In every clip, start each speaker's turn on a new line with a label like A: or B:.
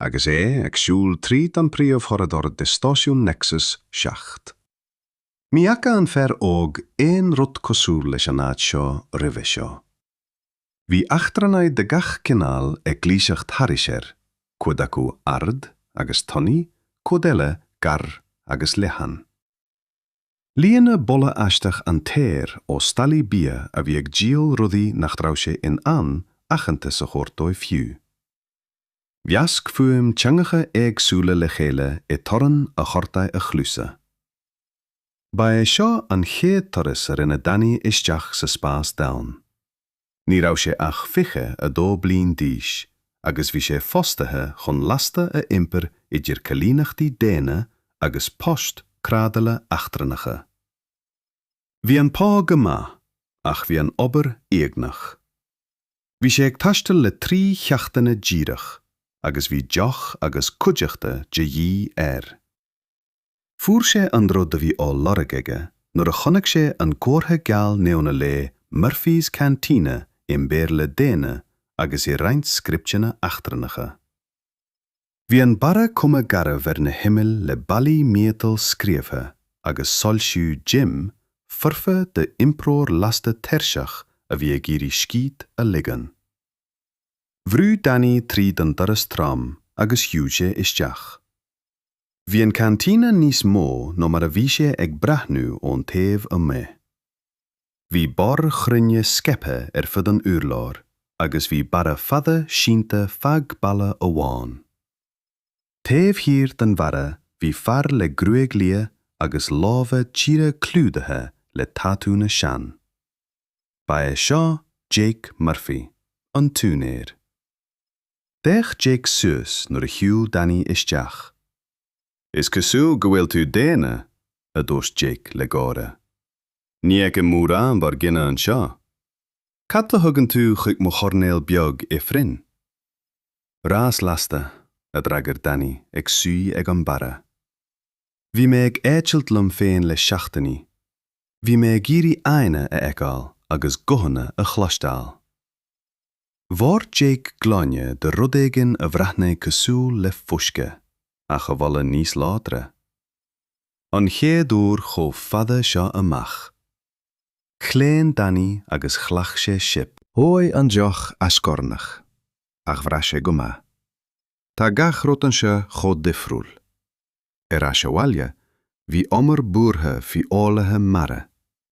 A: agus é ag siúl tríd an príomhchorridor de stáisiún Nexus seacht. Ní fhaca an fear óg aon rud cosúil leis an áit seo roimhe seo. Bhí eachtrannaigh de gach cineál ag gluaiseacht thairis air, cuid acu ard agus tanaí, cuid eile gearr agus leathan. Líon boladh aisteach an t-aer ó stallaí bia a bhí ag díol rudaí nach raibh sé in ann aitheantas a thabhairt dóibh fiú. Mheasc fuaim teangacha éagsúla le chéile i dtorann a ghortaigh a chluasa. Ba é seo an chéad turas a rinne Danny isteach sa spás domhain. Ní raibh sé ach 22 bliain d'aois agus bhí sé fostaithe chun lasta a iompar idir coilíneachtaí daonna agus poist trádála eachtrannacha. Bhí an pá go maith ach bhí an obair uaigneach. Bhí sé ag taisteal le trí sheachtaine díreach agus bhí deoch agus cuideachta de dhíth air. Fuair sé an rud a bhí á lorg aige nuair a chonaic sé an comhartha geal neon a léigh 'Murphy's Cantina' i mBéarla daonna agus i roinnt scripteanna eachtrannacha. Bhí an barra cuma garbh ar na himill le ballaí miotail scríobhtha agus soilsiú dim foirfe d'iompróir lasta tuirseach a bhí ag iarraidh scíth a ligean. Bhrúigh Danny tríd an doras trom agus shiúil sé isteach. Bhí an cantina níos mó ná mar a bhí sé ag breathnú ón taobh amuigh. Bhí boird chruinne scaipthe ar fud an urláir agus bhí barra fada sínte feadh balla amháin. Taobh thiar den bharra bhí fear le gruaig liath agus lámha tíre clúdaithe le tatúnna sean. Ba é seo Jake Murphy, an t-úinéir. D'fhéach Jake suas nuair a shiúil Danny isteach. Is cosúil go bhfuil tú daonna, a dúirt Jake le gáire. Ní fheicim mórán dár gcine anseo. Cad a thugann tú chuig mo choirnéal beag ifrinn? Rás lasta, a d'fhreagair Danny ag suí ag an mbarra. Bhí mé ag eitilt liom féin le seachtainí. Bhí mé ag iarraidh aghaidheanna a fheiceáil agus guthanna a chloisteáil. Dhoirt Jake gloine de rud éigin a bhreathnaigh cosúil le fuisce, ach a bholaigh níos láidre. an chéad uair chomh fada seo amuigh. Chlaon Danny agus ghlac sé sip. Dhóigh an deoch a scornach, ach bhraith sé go maith. Tá gach rud anseo chomh difriúil. Ar ais abhaile, bhí imní buartha faoi fhoghlaithe mara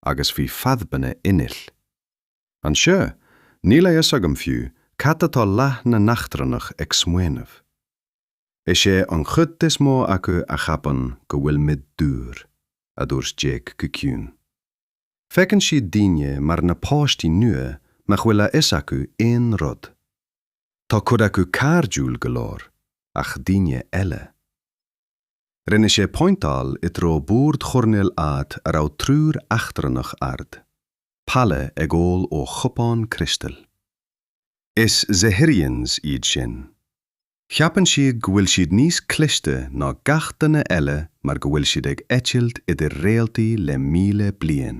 A: agus bhí fadhbanna innill. Anseo, níl a fhios agam fiú cad atá leath na n-eachtrannach ag smaoineamh. Is é an chuid is mó acu a cheapann go bhfuilimid dúr, a dúirt Jake go ciúin. Feiceann siad daoine mar na páistí nua nach bhfuil a fhios acu aon rud. Tá cuid acu cairdiúil go leor, ach daoine eile. Rinne sé pointeáil i dtreo bord choirnéil, áit a raibh triúr eachtrannach ard, pale ag ól ó chupán criostail. Is Zephyrians iad sin. Cheapann siad go bhfuil siad níos cliste ná gach duine eile mar go bhfuil siad ag eitilt idir réaltaí le míle bliain.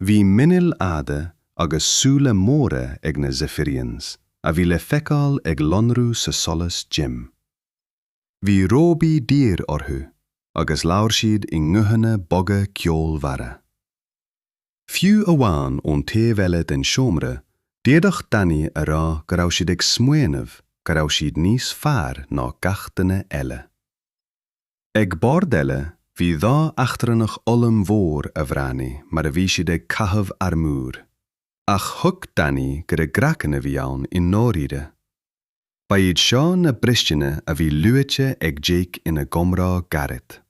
A: Bhí muiníl fhada agus súile móra ag na Zephyrians a bhí le feiceáil ag lonrú sa solas dim. Bhí róbaí daor orthu agus labhair siad i nguthanna boga ceolmhara. Fiú amháin ón taobh eile den seomra, d'fhéadfadh Danny a rá go raibh siad ag smaoineamh go raibh siad níos fearr ná gach duine eile. Ag bord eile, bhí dhá eachtrannach ollmhór a bhreathnaigh mar a bhí siad ag caitheamh armúir. Ach thuig Danny gur a gcraiceann a bhí ann i ndáiríre. Ba iad seo na bristeanna a bhí luaite ag Jake ina gcomhrá gairid.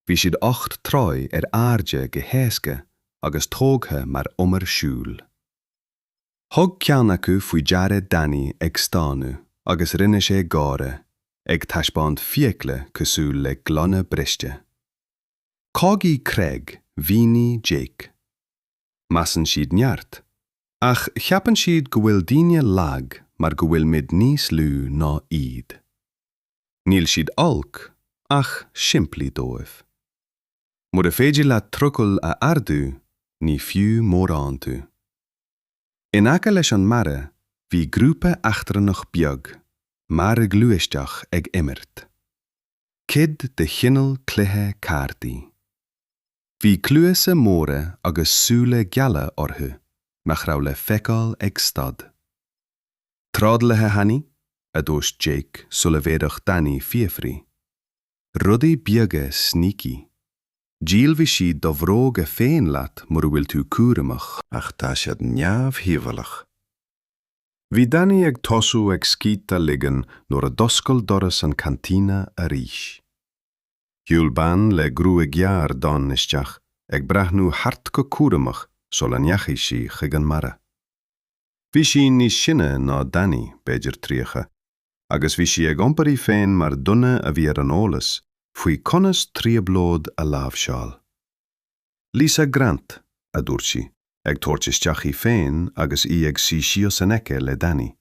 A: Bhí siad ocht dtroigh ar airde go héasca agus tógtha mar umar siúil. Thug ceann acu faoi deara Danny ag stánadh agus rinne sé gáire, ag taispeáint fiacla cosúil le gloine briste. Cágaí creag, mhínigh Jake. Measann siad neart, ach cheapann siad go bhfuil daoine lag mar go bhfuilimid níos lú ná iad. Níl siad olc, ach simplí dóibh. Mura féidir leat trucail a ardú, ní fiú mórán tú. In aice leis an mbarra bhí grúpa eachtrannach beag, mearghluaisteach ag imirt. Cuid de chineál cluiche cártaí. Bhí cluasa móra agus súile geala orthu nach raibh le feiceáil ag stad. Trádálaithe Hani, a dúirt Jake sula bhféadfadh Danny fiafraí. Rudaí beaga sneaky. Díolfaidh siad do bhróga féin leat mura bhfuil tú cúramach. Ach tá siad neamhdhíobhálach. Bhí Danny ag tosú ag scíth a ligean nuair a d'oscail doras an chantina arís. Shiúil bean le gruaig ghearr dhonn isteach, ag breathnú thart go cúramach sula ndeachaigh sí chuig an mbarra. Bhí sí níos sine ná Danny, b'fhéidir 30, agus bhí sí ag iompar í féin mar dhuine a bhí ar an eolas faoi conas trioblóid a láimhseáil. Lisa Grant, a dúirt sí, ag tabhairt isteach í féin agus í ag suí síos in aice le Danny.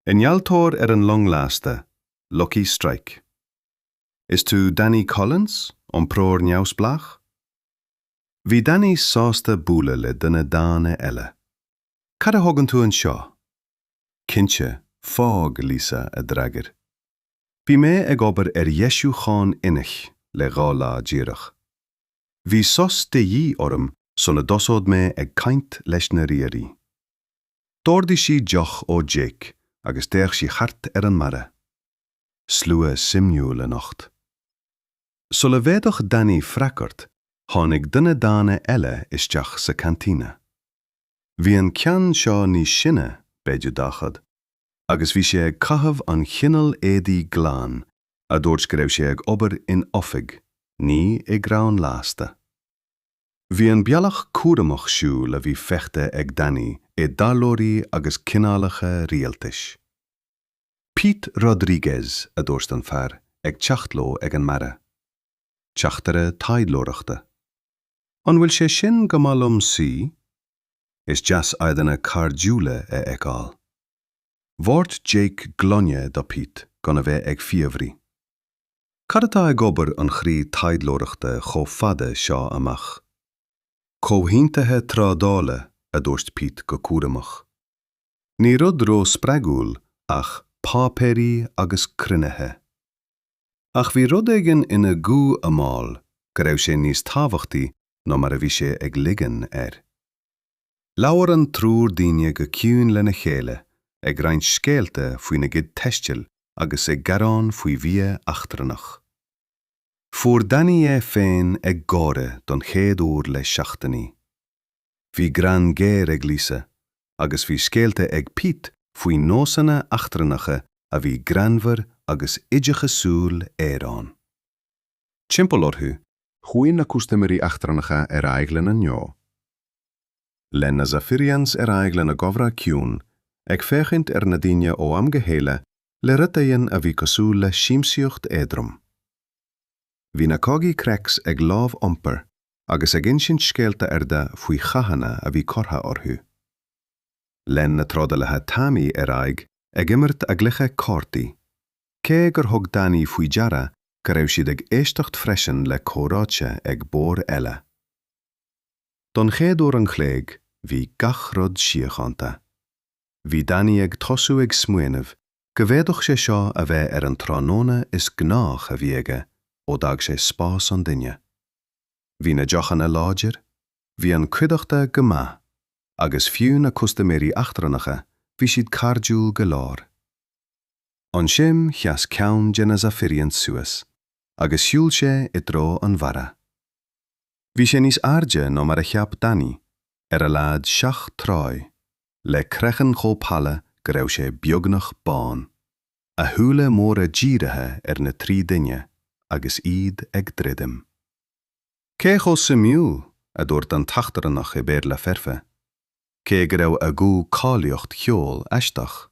A: Innealtóir ar an long lasta, Lucky Strike. Is tú Danny Collins, iompróir neamhspleách? Bhí Danny sásta bualadh le duine daonna eile. Cad a thugann tú anseo? Cinnte, fág Lisa, a d'fhreagair. Bhí mé ag obair ar dheisiúcháin innill le dhá lá díreach. Bhí sos de dhíth orm sula dtosódh mé ag caint leis na riairí. D'ordaigh sí deoch ó Jake agus d'fhéach sí thart ar an mbarra. Slua suimiúil anocht. Sula bhféadfadh Danny freagairt, tháinig duine daonna eile isteach sa cantina. Bhí an ceann seo níos sine, b'fhéidir dachad, agus bhí sé ag caitheamh an chineál éadaí glan a dúirt go raibh sé ag obair in oifig, ní i gcrann lasta. Bhí an bealach cúramach siúl a bhí feicthe ag Danny i dtaidhleoirí agus cineálacha rialtais. Pete Rodriguez, a dúirt an fear ag teacht leo ag an mbarra. Teachtaire taidhleoireachta. An bhfuil sé sin go maith liom suí? Is deas aghaidheanna cairdiúla a fheiceáil. Dhoirt Jake gloine do Pete gan a bheith ag fiafraí, Cad atá ag obair an chroí taidhleoireachta chomh fada seo amach? Comhaontaithe trádála, a dúirt Pete go cúramach. Ní rud ró-spreagúil ach páipéirí agus cruinnithe. Ach bhí rud éigin ina ghuth a mhol go raibh sé níos tábhachtaí ná mar a bhí sé ag ligean air. Labhair an triúr daoine go ciúin lena chéile, ag roinnt scéalta faoina gcuid taistil agus ag gearán faoi bhia eachtrannach. Fuair Danny é féin ag gáire don chéad uair le seachtainí. Bhí greann géar ag Lisa agus bhí scéalta ag Pete faoi nósanna eachtrannacha a bhí greannmhar agus oideachasúil araon. Timpeall orthu, chuaigh na custaiméirí eachtrannacha ar aghaidh lena ngnó. Lean na Zafirians ar aghaidh lena gcomhrá ciúin, ag féachaint ar na daoine ó am go chéile le rud éigin a bhí cosúil le siamsaíocht éadrom. Bhí na Corgi Crex ag lámh iompair agus ag insint scéalta arda faoi chathanna a bhí curtha orthu. Lean na trádalaithe tanaí ar aghaidh ag imirt a gcluiche cártaí, cé gur thug Danny faoi deara go raibh siad ag éisteacht freisin le comhráite ag boird eile. Don chéad uair an chloig bhí gach rud síochánta. Bhí Danny ag tosú ag smaoineamh go bhféadfadh sé seo a bheith ar an tráthnóna is gnáiche a bhí aige ó d'fhág sé spás an duine. Bhí na deochanna láidir, bhí an cuideachta go maith, agus fiú na custaiméirí eachtrannacha bhí siad cairdiúil go leor. Ansin sheas ceann de na Zafirians suas agus shiúil sé i dtreo an bharra. Bhí sé níos airde ná mar a cheap Danny, ar a laghad seacht dtroigh, le craiceann chomh pala go raibh sé beagnach bán. a shúile móra dírithe ar na trí daoine agus iad ag druidim. Cé chomh suimiúil, a dúirt an t-eachtrannach i Béarla foirfe, cé go raibh ag a ghuth cáilíocht cheoil aisteach.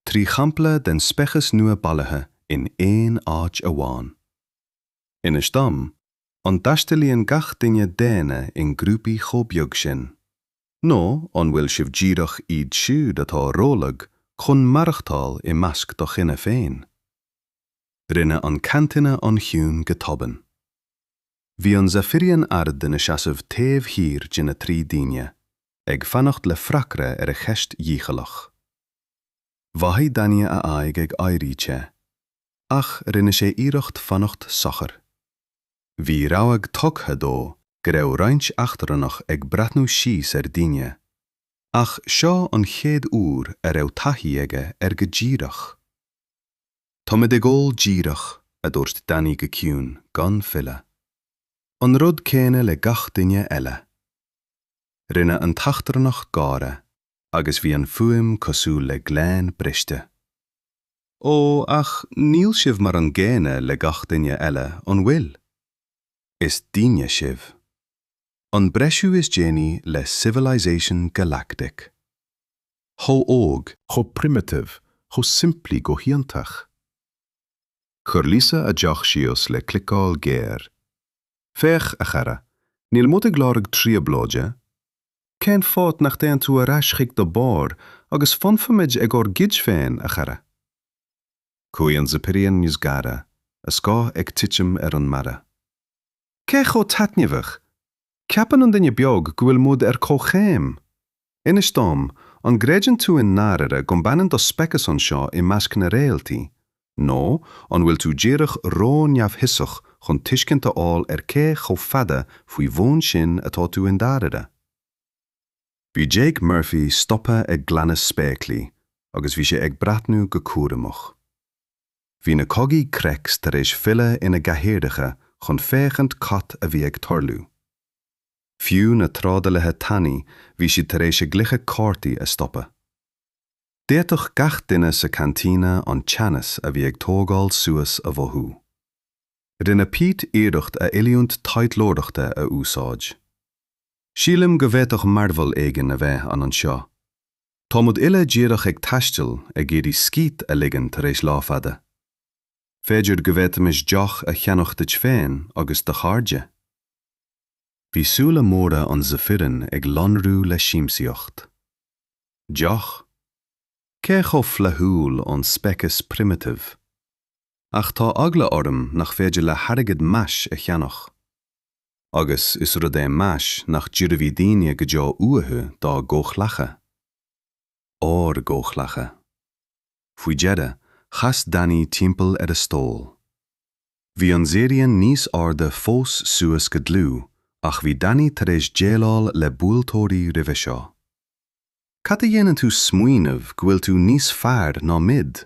A: Trí shampla den speiceas nua bailithe in aon áit amháin. Inis dom, an dtaistealaíonn gach duine daonna in grúpaí chomh beag sin? Nó an bhfuil sibh díreach iad siúd atá rólag chun maireachtáil i measc do chine féin? Rinne an cantina an-chiúin go tobann. Bhí an Zafirian ard ina seasamh taobh thiar de na trí daoine, ag fanacht le freagra ar a cheist dhícheallach. Mhothaigh Danny a aghaidh ag éirí te, ach rinne sé iarracht fanacht sochair. Bhí rabhadh tugtha dó go raibh roinnt eachtrannach ag breathnú síos ar daoine, ach seo an chéad uair a raibh taithí aige air go díreach. Táimid ag ól díreach, a dúirt Danny go ciúin, gan filleadh. An rud céanna le gach duine eile. Rinne an t-eachtrannach gáire agus bhí an fuaim cosúil le gloine briste. Ó, ach níl sibh mar an gcéanna le gach duine eile, an bhfuil? Is daoine sibh. An breisiú is déanaí le Civilization Galactic. Chomh óg. chomh primitive, chomh simplí go hiontach. Chuir Lisa a deoch síos le cliceáil géar. Féach, a chara, níl muid ag lorg trioblóide. Cén fáth nach dtéann tú ar ais chuig do bharr agus fanfaimid ag ár gcuid féin, a chara? Chuaigh an Zephyrian níos gaire, a scáth ag titim ar an mbarra. Cé chomh taitneamhach! Ceapann an duine beag go bhfuil muid ar comhchéim! Inis dom, an gcreideann tú i ndáirire go mbaineann do speiceas anseo i measc na réaltaí? nó an bhfuil tú díreach ró-neamhfhiosach chun tuiscint a fháil ar cé chomh fada faoi bhun sin atá tú i ndáirire? Bhí Jake Murphy stoptha ag glanadh spéaclaí agus bhí sé ag breathnú go cúramach. Bhí na cogaí Crex tar éis filleadh ina gcathaoireacha chun féachaint cad a bhí ag tarlú. Fiú na trádálaithe tanaí bhí siad tar éis a gcluiche cártaí a stopadh. D'fhéadfadh gach duine sa cantina an teannas a bhí ag tógáil suas a mhothú. Rinne Pete iarracht a oiliúint taidhleoireachta a úsáid. Sílim go bhféadfadh mearbhall éigin a bheith ann anseo. Táimid uile díreach ag taisteal, ag iarraidh scíth a ligean tar éis lá fada. B'fhéidir go bhféadfaimis deoch a cheannach duit féin agus do chairde? Bhí súile móra an Zephyrian ag lonrú le siamsaíocht. deoch, cé chomh flaithiúil ón speiceas primitive, ach tá eagla orm nach féidir le hairgead meas a cheannach. Agus is rud é meas nach dtabharfaidh daoine go deo uathu dá gcomhghleacaithe. Ár gcomhghleacaithe. Faoi dheireadh, chas Danny timpeall ar a stól. Bhí an Zephyrian níos airde fós suas go dlúth ach bhí Danny tar éis déileáil le buailteoirí roimhe seo. Cad a dhéanann tú smaoineamh go bhfuil tú níos fearr ná muid?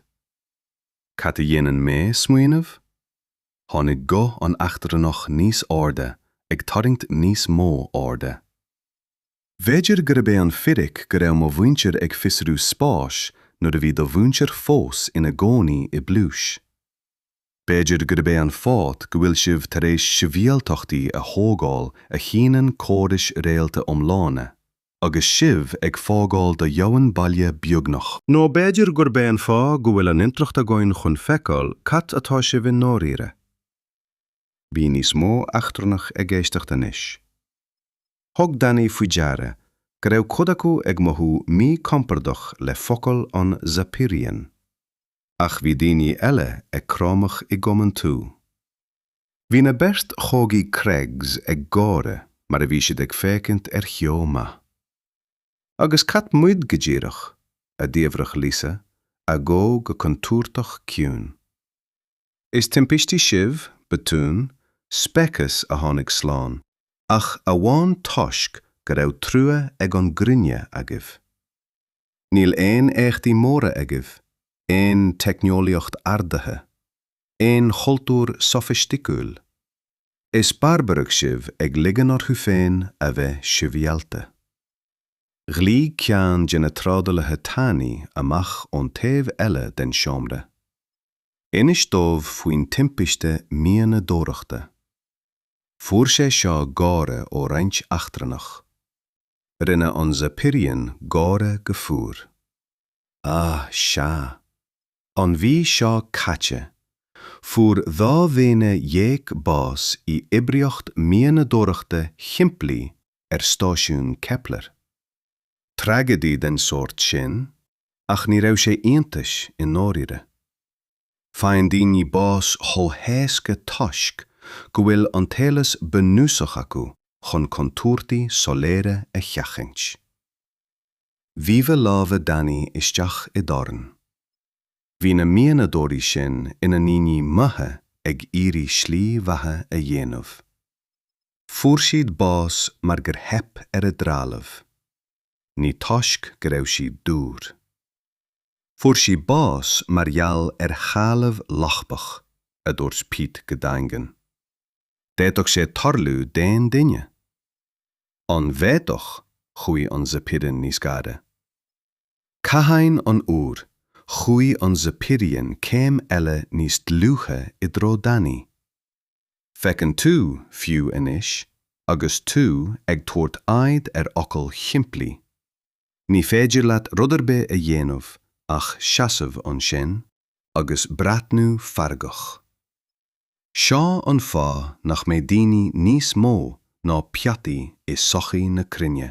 A: Cad a dhéanann mé smaoineamh? Tháinig guth an eachtrannach níos airde ag tarraingt níos mó airde. B'fhéidir gurb é an fhíric go raibh mo mhuintir ag fiosrú spáis nuair a bhí do mhuintir fós ina gcónaí i bpluais? B'fhéidir gurb é an fáth go bhfuil sibh tar éis sibhialtachtaí a thógáil a shíneann córais réalta iomlána, agus sibh ag fágáil do dhomhain baile beagnach. Nó b'fhéidir gurb é an fáth go bhfuil an intleacht againn chun feiceáil cad atá sibh i ndáiríre. Bhí níos mó eachtrannach ag éisteacht anois. Thug Danny faoi deara go raibh cuid acu ag mothú míchompordach le focail an Zephyrian. Ach bhí daoine eile ag cromadh i gcomhaontú. Bhí na beirt chogaí Craigs ag gáire mar a bhí siad ag féachaint ar sheó maith. Agus cad muid go díreach? a d'fhiafraigh Lisa, a guth go contúirteach ciúin. Is timpistí sibh, botúin, speiceas a tháinig slán ach amháin toisc go raibh trua ag an gcruinne agaibh. Níl aon éachtaí móra agaibh, aon teicneolaíocht ardaithe, aon chultúr sofaisticiúil. Is barbarach sibh ag ligean orthu féin a bheith sibhialta. Ghlaoigh ceann de na trádálaithe tanaí amach ón taobh eile den seomra. Inis dóibh faoin timpiste mianadóireachta. Fuair sé seo gáire ó roinnt eachtrannach. Rinne an Zephyrian gáire go fuar. Ah, sea. An mhí seo caite, fuair dhá dhaonna dhéag bás i oibríocht mianadóireachta shimplí ar stáisiún Kepler. Tragedy den sórt sin, ach ní raibh sé iontais i ndáiríre. Faigheann daoine bás chomh héasca toisc go bhfuil an t-eolas bunúsach acu chun contúirtí soiléire a sheachaint. Bhíodh lámha Danny isteach i ndorn. Bhí na mianadóirí sin ina ndaoine maithe ag iarraidh slí bheatha a dhéanamh. Fuair siad bás mar gur theip ar a dtrealamh. Ní toisc go raibh siad dúr. Fuair siad bás mar gheall ar threalamh lochtach, a dúirt Pete go daingean. D'fhéadfadh sé tarlú d'aon duine. An bhféadfadh? Chuaigh an Zephyrian níos gaire. Cathain an uair, chuaigh an Zephyrian céim eile níos dlúithe i dtreo Danny. Feiceann tú, fiú anois, agus tú ag tabhairt aird ar fhocail shimplí, Ní féidir leat rud ar bith a dhéanamh ach seasamh ansin agus breathnú feargach. Seo an fáth nach mbeidh daoine níos mó ná peataí i sochaí na cruinne.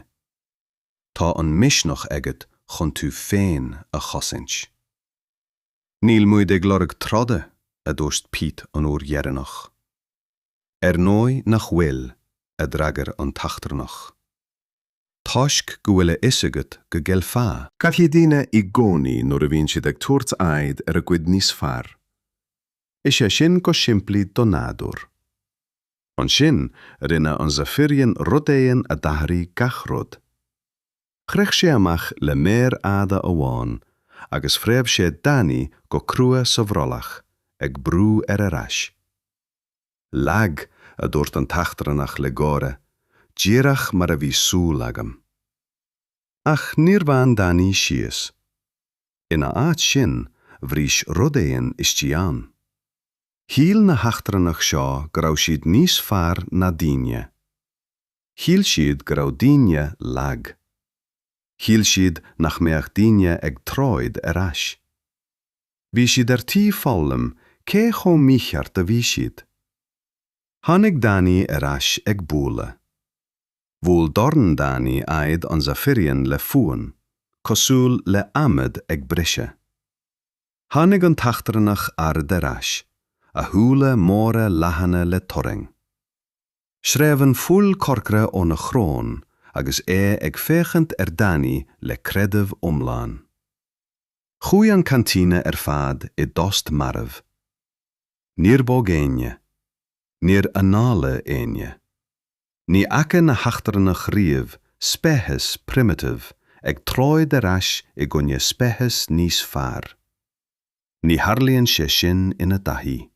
A: Tá an misneach agat chun tú féin a chosaint. Níl muid ag lorg troda, a dúirt Pete an uair dheireanach. Ar ndóigh nach bhfuil, a d'fhreagair an t-eachtrannach. toisc go bhfuil a fhios agat go gcaillfeá. Caillfidh daoine i gcónaí nuair a bhíonn siad ag tabhairt aghaidh ar a gcuid níos fearr. Is é sin go simplí do nádúr. Ansin, rinne an Zephyrian rud éigin a d'athraigh gach rud. Shroich sé amach le méar fhada amháin agus phreab sé Danny go crua sa bhrollach, ag brú ar ar ais. Lag, a dúirt an t-eachtrannach le gáire, díreach mar a bhí súil agam. Ach níor bhain Danny síos. Ina áit sin, bhris rud éigin istigh ann. Shíl na heachtrannaigh seo go raibh siad níos fearr ná daoine. Shíl siad go raibh daoine lag. Shíl siad nach mbeadh daoine ag troid ar ais. bhí siad ar tí foghlaim cé chomh mícheart a bhí siad. Tháinig Danny ar ais ag bualadh. Bhuail dorn Danny aghaidh an Zephyrian le fuaim cosúil le adhmad ag briseadh. Tháinig an t-eachtrannach ard ar ais, a shúile móra leathana le turraing. Sreabh an fuil chorcra óna shrón agus é ag féachaint ar Danny le creideamh iomlán. Chuaigh an cantina ar fad i dtost marbh. Níor bhog éinne. Níor análaigh éinne. Ní fhaca na heachtrannaigh riamh speiceas primitive ag troid ar ais i gcoinne speiceas níos fearr. Ní tharlaíonn sé sin ina dtaithí.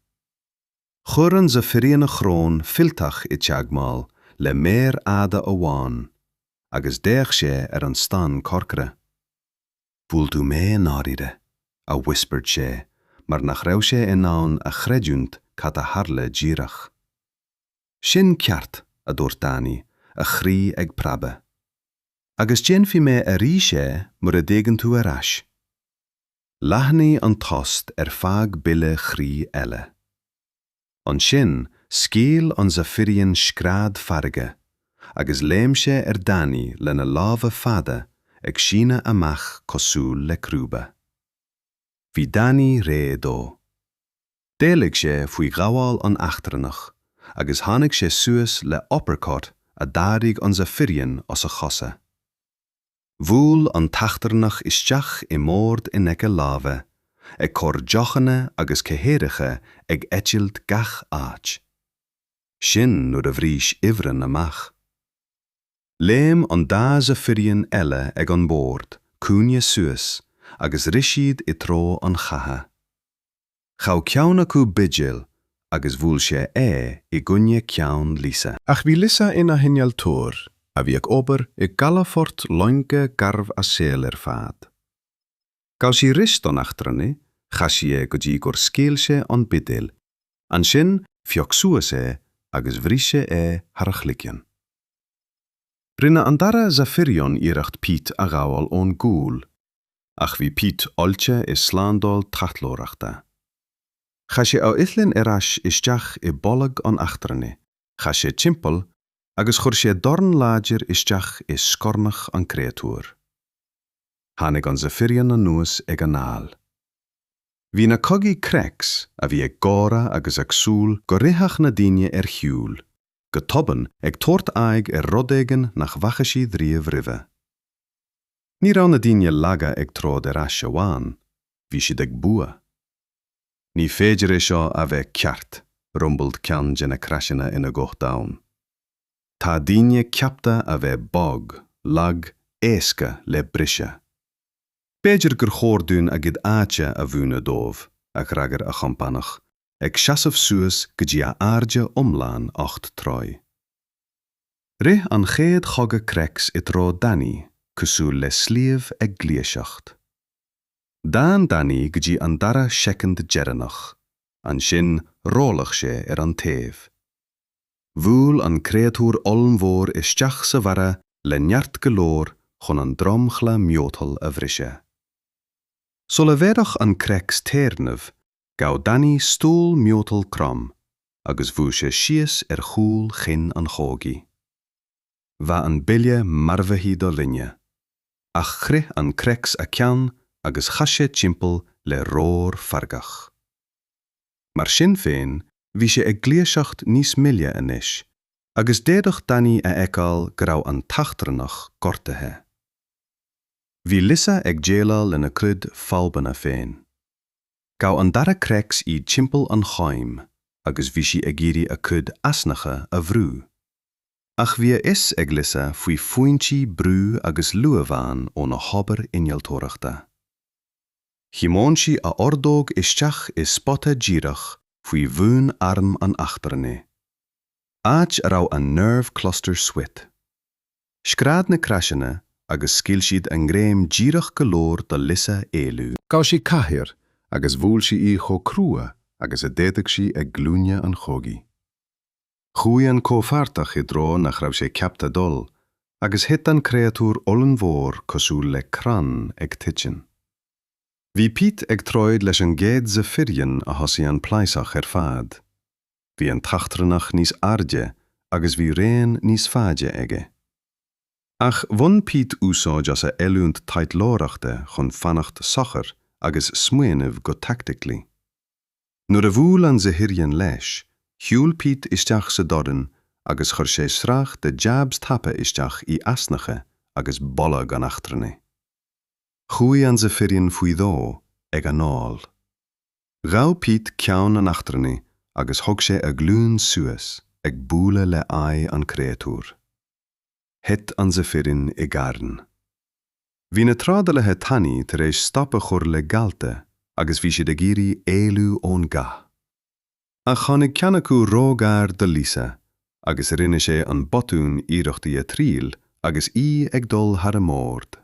A: Chuir an Zephyrian a shrón fuilteach i dteagmháil le méar fhada amháin agus d'fhéach sé ar an stán corcra. 'Bhuail tú mé i ndáiríre, a whispered sé mar nach raibh sé in ann a chreidiúnt cad a tharla díreach. 'Sin ceart, a dúirt Danny, a chroí ag preabadh. 'Agus déanfaidh mé arís é mura dtéann tú ar ais. Leathnaigh an tost ar feadh buille chroí eile. Ansin scaoil an Zephyrian scread feirge, agus léim sé ar Danny lena lámha fada ag síneadh amach cosúil le crúba. Bhí Danny réidh dó. D'éalaigh sé faoi ghabháil an eachtrannach agus tháinig sé suas le uppercut a d'ardaigh an Zephyrian as a chosa. Bhuail an t-eachtrannach isteach i mbord in aice láimhe, ag cur deochanna agus cathaoireacha ag eitilt gach áit. Sin nuair a bhris ifreann amach. Léim an dá Zephyrian eile ag an mbord cúinne suas agus rith siad i dtreo an chatha. Ghabh ceann acu buidéal agus bhuail sé é i gcoinne ceann Lisa. Ach bhí Lisa ina hinnealtóir a bhí ag obair i gcalafort loinge garbh a saol ar fad. Ghabh sí rosta an eachtrannaigh, chas sí é go dtí gur scaoil sé an buidéal, ansin phioc sí suas é agus bhris sé é thar a chloigeann. Rinne an dara Zephyrian iarracht Pete a ghabháil ón gcúl. ach bhí Pete oilte i slándáil tráchtlóireachta. Chaith sé a uillinn ar ais isteach i bholg an eachtrannaigh, chas sé timpeall agus chuir sé dorn láidir isteach i scornach an chréatúir. Tháinig an Zephyrian anuas ag an fhál. Bhí na cogaithe Crex, a bhí ag gáire agus ag súil go rithfeadh na daoine ar shiúl, go tobann ag tabhairt aghaidh ar rud éigin nach bhfaca siad riamh roimhe. Ní raibh na daoine laga ag troid ar ais amháin, bhí siad ag bua. Ní féidir é seo a bheith ceart, rumbled ceann de na Crexanna ina ghuth domhain. Tá daoine ceaptha a bheith bog, lag, éasca le briseadh. B'fhéidir gur chóir dúinn a gcuid áite a mhúineadh dóibh, a d'fhreagair a chompánach, ag seasamh suas go dtí a airde iomlán ocht dtroigh. Rith an chéad chogaí Crex i dtreo Danny cosúil le sliabh ag gluaiseacht. D'fhan Danny go dtí an dara soicind deireanach, ansin rolladh sé ar an taobh. Bhuail an créatúr ollmhór isteach sa bharra le neart go leor chun an dromchla miotal a bhriseadh. Sula bhféadfadh an Crex téarnamh Ghabh Danny stól miotal trom agus bhuail sé síos ar chúl chinn an chogaí. Bheadh an buille maraithe do dhuine, ach chroith an Crex a ceann agus chas sé timpeall le roar feargach. Mar sin féin, bhí sé ag gluaiseacht níos moille anois agus d'fhéadfadh Danny a fheiceáil go raibh an t-eachtrannach gortaithe. Bhí Lisa ag déileáil lena cuid fadhbanna féin. Ghabh an dara Crex í timpeall an choim agus bhí sí ag iarraidh a cuid easnacha a bhrú. Ach bhí a fhios ag Lisa faoi phointí brú agus luamhán óna hobair innealtóireachta. Thiomáin sí a ordóg isteach i spota díreach faoi bhun airm an eachtrannaigh, áit a raibh an nerve cluster suite. Scread na Craiseanna agus scaoil siad a ngreim díreach go leor do Lisa éalú. Ghabh sí cathaoir agus bhuail sí í chomh crua agus a d'fhéadfadh sí ag glúine an chógaí. Chuaigh an comhpháirteach i dtreo nach raibh sé ceaptha dul, agus thit an créatúr ollmhór cosúil le crann ag titim. Bhí Pete ag troid leis an gcéad Zephyrian a thosaigh an pléascadh ar fad. Bhí an t-eachtrannach níos airde agus bhí raon níos faide aige. Ach bhain Pete úsáid as a oiliúnt taidhleoireachta chun fanacht socair agus smaoineamh go tactically. Nuair a bhuail an Zephyrian leis, shiúil Pete isteach sa dorn agus chuir sé sraith de jabs tapa isteach i easnacha agus bolg an eachtrannaigh. Chuaigh an Zephyrian faoi dhó ag anáil. Ghabh Pete ceann an eachtrannaigh agus thug sé a ghlúin suas ag bualadh le aghaidh an créatúir. Thit an Zephyrian i gcarn. Bhí na trádálaithe tanaí tar éis stop a chur le galta agus bhí siad ag iarraidh éalú ón gcath. Ach tháinig ceann acu róghar do Lisa agus rinne sé an botún iarracht í a thriail agus í ag dul thar a mbord.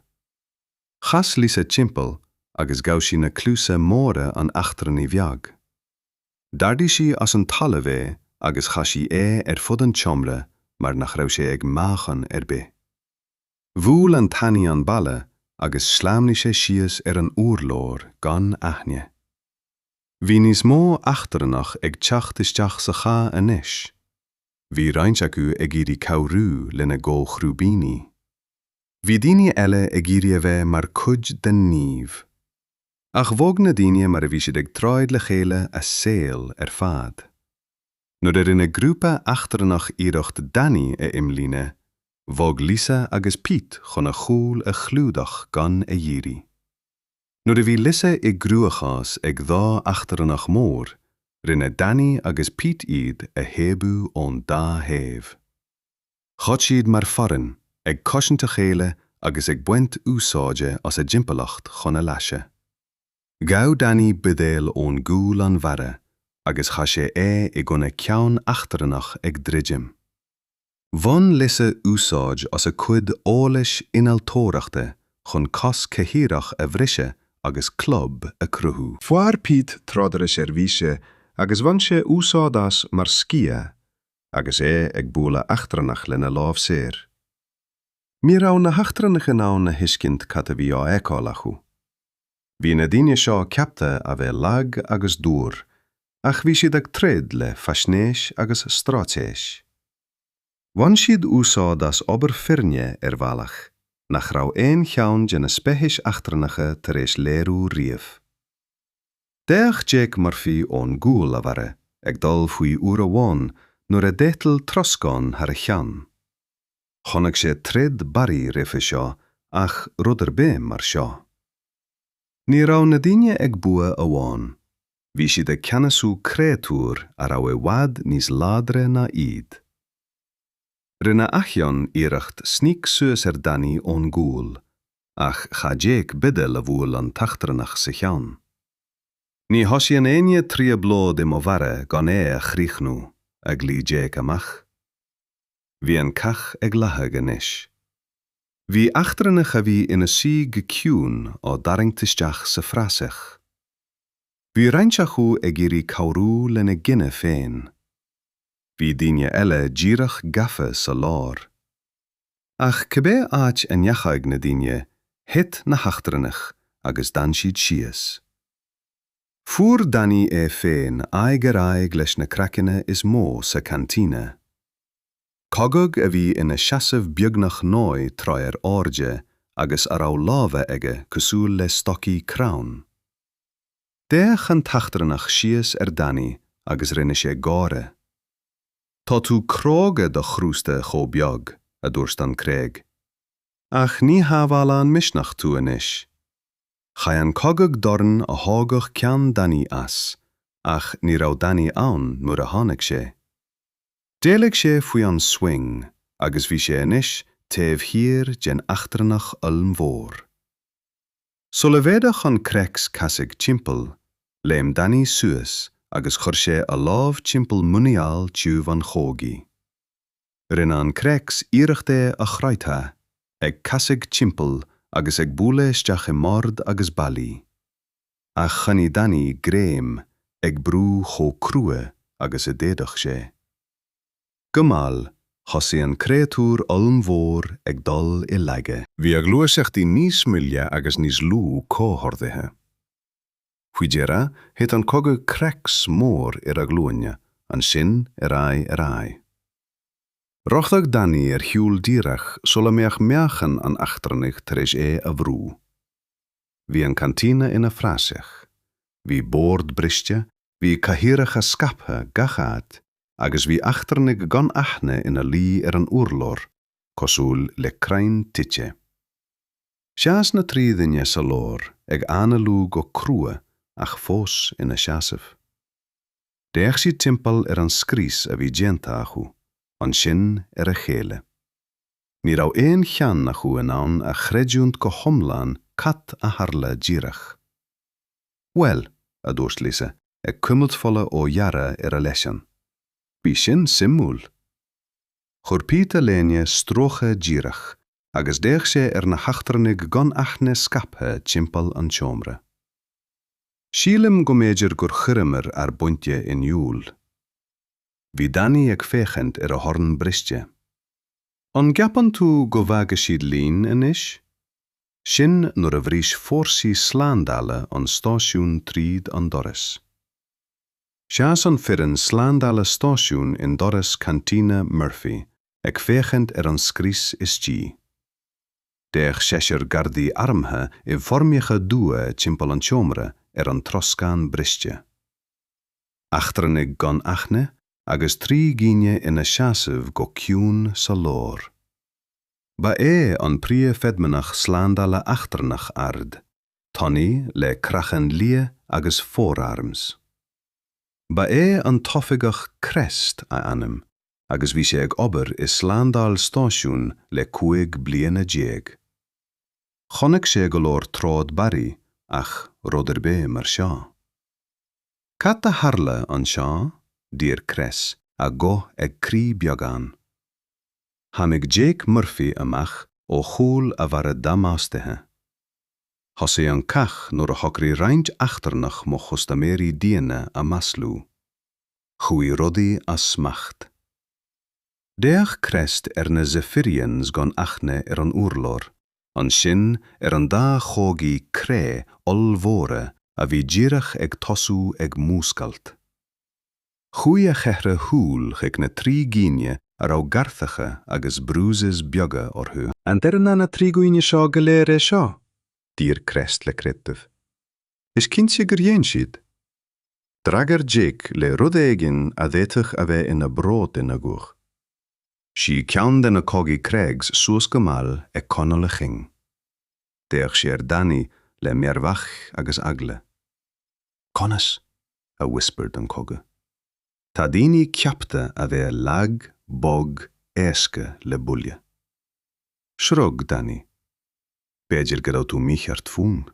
A: Chas Lisa timpeall agus ghabh sí na cluasa móra an eachtrannaigh bheag. D'ardaigh sí as an talamh é agus chaith sí é ar fud an tseomra mar nach raibh sé ag meáchan ar bith. Bhuail an Tanaí an balla agus shleamhnaigh sé síos ar an urlár gan aithne. Bhí níos mó eachtrannach ag teacht isteach sa chath anois. Bhí roinnt acu ag iarraidh cabhrú lena gcomhchrúbíní. Bhí daoine eile ag iarraidh a bheith mar chuid den naomh. Ach bhog na daoine mar a bhí siad ag troid le chéile a saol ar fad. Nuair a rinne grúpa eachtrannach iarracht Danny a imlíne, bhog Lisa agus Pete chun a chúl a chlúdach gan a iarraidh. Nuair a bhí Lisa i gcruachás ag dhá eachtrannach mór, rinne Danny agus Pete iad a thaobhú ón dá thaobh. Throid siad mar foireann, ag cosaint a chéile agus ag baint úsáide as a dtimpeallacht chun a leasa. Ghabh Danny buidéal ón gcúl an bharra agus chaith sé é i gcoinne ceann eachtrannach ag druidim. Bhain Lisa úsáid as a cuid eolais innealtóireachta chun cos cathaoireach a bhriseadh agus club a chruthú. Fuair Pete tráidire seirbhíse agus bhain sé úsáid as mar sciath. agus é ag bualadh eachtrannach lena lámh saor. Ní raibh na heachtrannaigh in ann a thuiscint cad a bhí á fheiceáil acu. Bhí na daoine seo ceaptha a bheith lag agus dúr, ach bhí siad ag troid le faisnéis agus straitéis. Bhain siad úsáid as obair foirne ar bhealach nach raibh aon cheann de na speicis eachtrannacha tar éis léiriú riamh. D'fhéach Jake Murphy ón gcúl, a bharra ag dul faoi uair amháin nuair a d'eitil troscán thar a cheann. Chonaic sé troid barra roimhe seo ach rud ar bith mar seo. Ní raibh na daoine ag bua amháin, bhí siad ag ceannasú créatúir a raibh i bhfad níos láidre ná iad. Rinne Acheon iarracht sníc suas ar Danny ón gcúl ach chaith Jake buidéal a bhuail an t-eachtrannach sa cheann. Ní thosaíonn éinne trioblóid i mo bharra gan é a chríochnú, a ghlaoigh Jake amach. Bhí an cath ag leathadh anois. Bhí eachtrannach a bhí ina suí go ciúin á dtarraingt isteach sa phraiseach. Bhí roinnt acu ag iarraidh cabhrú lena gcine féin. bhí daoine eile díreach gafa sa lár. Ach cibé áit a ndeachaigh na daoine, thit na heachtrannaigh agus d'fhan siad síos. Fuair Danny é féin aghaidh ar aghaidh leis na Crexanna is mó sa Cantina. Cogadh a bhí ina seasamh beagnach naoi dtroithe ar airde agus a raibh lámha aige cosúil le stocaí crann. D'fhéach an t-eachtrannach síos ar Danny agus rinne sé gáire. Tá tú cróga do chrústa chomh beag, a dúirt an Crex. Ach ní shábhálann misneach tú anois. Chaith an cogadh dorn a thógadh ceann Danny as, ach ní raibh Danny ann nuair a tháinig sé. D'éalaigh sé faoi an swing agus bhí sé anois taobh thiar den eachtrannach ollmhór. Sula bhféadfadh an Crex casadh timpeall, léim Danny suas agus chuir sé a lámh timpeall muineál tiubh an chogaí. Rinne an Crex iarracht é a chroitheadh, ag casadh timpeall agus ag bualadh isteach i mbord agus ballaí. Ach choinnigh Danny greim, ag brú chomh crua agus a d'fhéadfadh sé. Go mall, thosaigh an créatúr ollmhór ag dul i laige. Bhí a ghluaiseachtaí níos moille agus níos lú comhordaithe. Faoi dheireadh, thit an cogadh Crex mór ar a ghlúine, ansin ar aghaidh ar aghaidh. Rothaigh Danny ar shiúl díreach sula mbeadh meáchan an eachtrannaigh tar éis é a bhrú. Bhí an cantina ina phraiseach. Bhí bord briste Bhí cathaoireacha scaipthe gach áit agus bhí eachtrannaigh gan aithne ina luí ar an urlár, cosúil le crainn tite. Sheas na trí dhuine sa lár ag análú go crua ach fós ina seasamh. D'fhéach siad timpeall ar an scrios a bhí déanta acu, ansin ar a chéile. Ní raibh aon cheann acu in ann a chreidiúint go hiomlán cad a tharla díreach. 'Bhuel, a dúirt Lisa, ag cuimilt fola ó ghearradh ar a leiceann. 'Bhí sin suimiúil! Chuir Pete a léine stróicthe díreach agus d'fhéach sé ar na heachtrannaigh gan aithne scaipthe timpeall an tseomra. 'Sílim go mb'fhéidir gur chuireamar ár bpointe in iúl. Bhí Danny ag féachaint ar a dhorn briste. 'An gceapann tú go bhfágfaidh siad linn anois? Sin nuair a bhris fórsaí slándála an stáisiún tríd an doras. Sheas an foireann slándála stáisiúin i ndoras cantina Murphy ag féachaint ar an scrios istigh. D'fhéach seisear gardaí armtha i bhfoirmeacha dubha timpeall an tseomra ar an troscán briste. Eachtrannaigh gan aithne agus trí dhaoine ina seasamh go ciúin sa lár. Ba é an príomhfheidhmeannach slándála eachtrannach ard tanaí le craiceann liath agus four arms. Ba é an tOifigeach Crest a ainm agus bhí sé ag obair i slándáil stáisiún le cúig bliana déag. Chonaic sé go leor troid barraí ach rud ar bith mar seo. Cad a tharla anseo? d'iarr Crest a ghuth ag crith beagán. Tháinig Jake Murphy amach ó chúl a bharra damáistithe. Thosaigh an cath nuair a shocraigh roinnt eachtrannach mo chustaiméirí daonna a mhaslú. Chuaigh rudaí as smacht. D'fhéach Crest ar na Zephyrians gan aithne ar an urlár, ansin ar an dá chogaí cré ollmhóra a bhí díreach ag tosú ag múscailt. Chuaigh a cheithre shúil chuig na trí dhaoine a raibh gearrthacha agus bruises beaga orthu. An ndearna na trí dhaoine seo go léir é seo? d'iarr Crest le creideamh. Is cinnte gur dhein siad! D'fhreagair Jake le rud éigin a d'fhéadfadh a bheith ina bhród ina ghuth. Shuigh ceann de na Cogaí Craigs suas go mall ag coinneáil a chinn. D'fhéach sé ar Danny le mearbhall agus eagla. Conas? a whispered an cogadh. Tá daoine ceapta a bheith lag, bog, éasca le buille. Shrug Danny. B'fhéidir go raibh tú mícheart fúm.